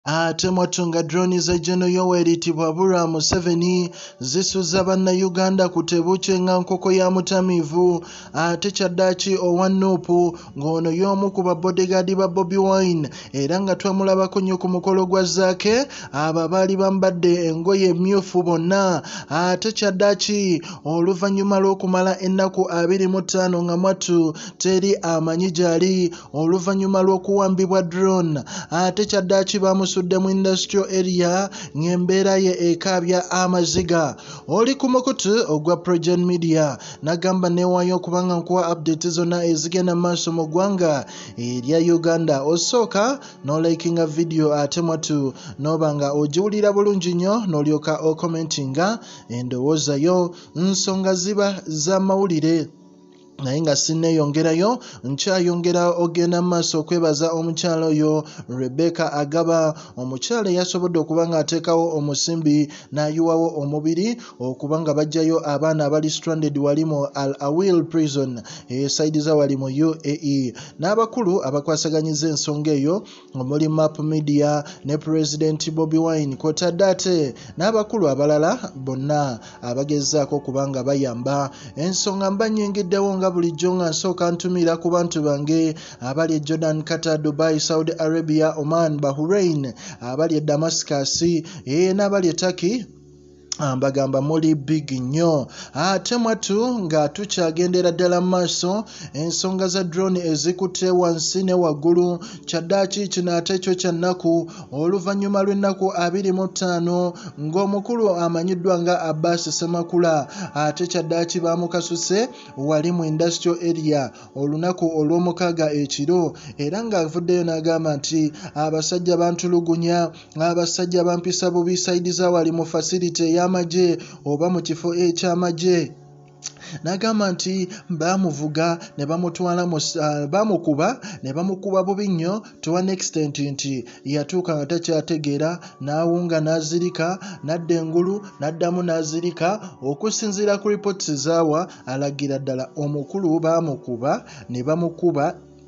Ate mwatunga drone za Geno Yoweri Tibwabura Museveni zisuza banna Uganda ku tebuukye nga nkoko ya mutamiivu ate kyaddaaki owa Nup ng'ono y'omu ku ba bodyguard ba Bobi Wine era nga twamulabako nnyo ku mukolo gwa Zaake abo abaali bambadde engoye emmyufu bonna ate kyaddaaki oluvannyuma lw'okumala ennaku abiri mu ttaano nga mwattu teri amanyi gyali oluvannyuma lw'okuwambibwa drone ate kyaddaaki baamusudde mu industrial area ng'embeera ye ekaabya amaziga oli ku mukutu ogwa progen media nagamba neewaayo okuba nga nkuwa update zonna ezigenda mu maaso mu ggwanga erya uganda osooka n'olayikinga vidiyo ate mwatu n'oba nga ogiwulira bulungi nnyo n'olyoka okomentinga endowooza yo nsonga ziba z'amawulire naye nga sinneeyongerayo nkyayongera ogenda mu maaso okwebaza omukyala oyo rebecca agaba omukyala eyasobodde okuba ng'ateekawo omusimbi n'ayiwawo omubiri okuba nga bajjayo abaana abali stranded wali mu al awil prison esaidiza wali mu uae n'abakulu abakwasaganyiza ensonga eyo omuli map media ne pulezidenti bobi wine kwotadde ate n'abakulu abalala bonna abagezaako okuba nga bayamba ensonga mba nyingiddewo nga bulijjo nga nsooka ntumiira ku bantu bange abali e jordan qatar dubai saudi arabia oman bahurain abali e damascus ee n'abali e turkey mbagamba muli big nnyo ate mwatu nga tukyagendera ddala mu maaso ensonga za drone ezikutte wansi ne waggulu kyaddaaki kino ate kyo kya nnaku oluvannyuma lw'ennaku abiri mu ttaano ng'omukulu amanyiddwa nga abbas semakula ate kyaddaaki baamukasuse wali mu industrial area olunaku olw'omukaaga ekiro era ng'avuddeyo n'agamba nti abasajja bantulugunya ng'abasajja bampisa bubi sayidi za wali mu fasiliti ey'amagye oba mu kifo eky'amagye n'agamba nti baamuvuga ne bamutwala ah, baamukuba ne bamukuba bubi nnyo to an extent nti yatuuka nga takyategeera n'awunga n'azirika n'adda engulu n'addamu n'azirika okusinziira ku ripooti zaawa alagira ddala omukulu baamukuba ne bamukuba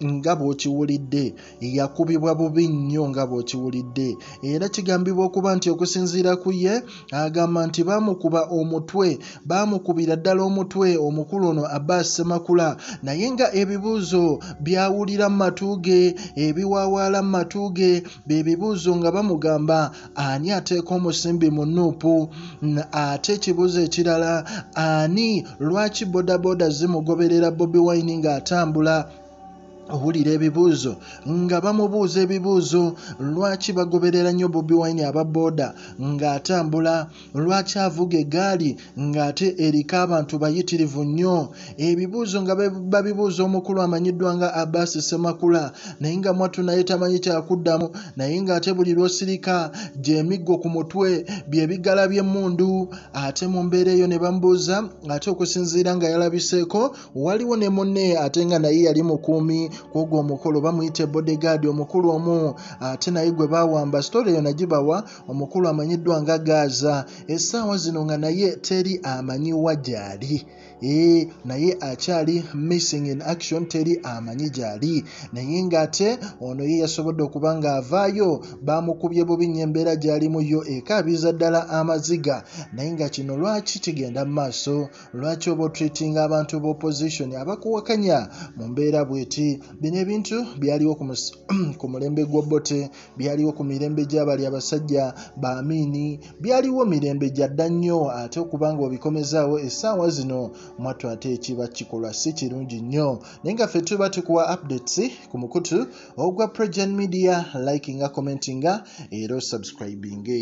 nga bw'okiwulidde yakubibwa bubi nnyo nga bw'okiwulidde era kigambibwa okuba nti okusinziira ku ye agamba nti baamukuba omutwe baamukubira ddala omutwe omukulu ono aba semakula naye nga ebibuuzo byawulira mu matu ge ebiwawaala mu matu ge bye bibuuzo nga bamugamba ani ateeka omusimbi mu nuupu ate ekibuuzo ekirala ani lwaki bodaboda zimugoberera bobi wine ng'atambula owulira ebibuuzo nga bamubuuza ebibuuzo lwaki bagoberera nnyo bobi wine aba booda ng'atambula Lwaki avuga egaali ng'ate eriko abantu bayitirivu nnyo? Ebibuuzo nga babibuuza omukulu amanyiddwa nga Abbas Ssemakula naye nga mwattu naye tamanyi kyakuddamu naye ng'ate buli lw'osirika gy'emiggo ku mutwe bye bigala by'emmundu ate mu mbeera eyo ne bamubuuza ate okusinziira nga yalabiseeko waliwo ne munne ate nga naye yali mukuumi kw'ogwo omukolo bamuyita bodegaadi omukulu omu ate naye gwe baawamba sitole eyo nagibawa omukulu amanyiddwa nga gaaza essaawa zino nga naye teri amanyi wa gyali ee naye akyali missing in action teri amanyi gyali naye ng'ate ono ye yasobodde okuba ng'avaayo baamukubye bubi nnyo embeera gy'alimu yo ekaabiza ddala amaziga naye nga kino lwaki kigenda mu maaso lwaki oba otreatinga abantu ba opposition abakuwakanya mu mbeera bweti bino ebintu byaliwo ku mulembe gw'obote byaliwo ku mirembe gy'abali abasajja ba amiini byaliwo mirembe gya dda nnyo ate okuba nga obikomezaawo essaawa zino mwattu ate ekiba kikolwa si kirungi nnyo naye nga ffe tuba tukuwa updates ku mukutu ogwa progen media likinga commentinga era osubscribinge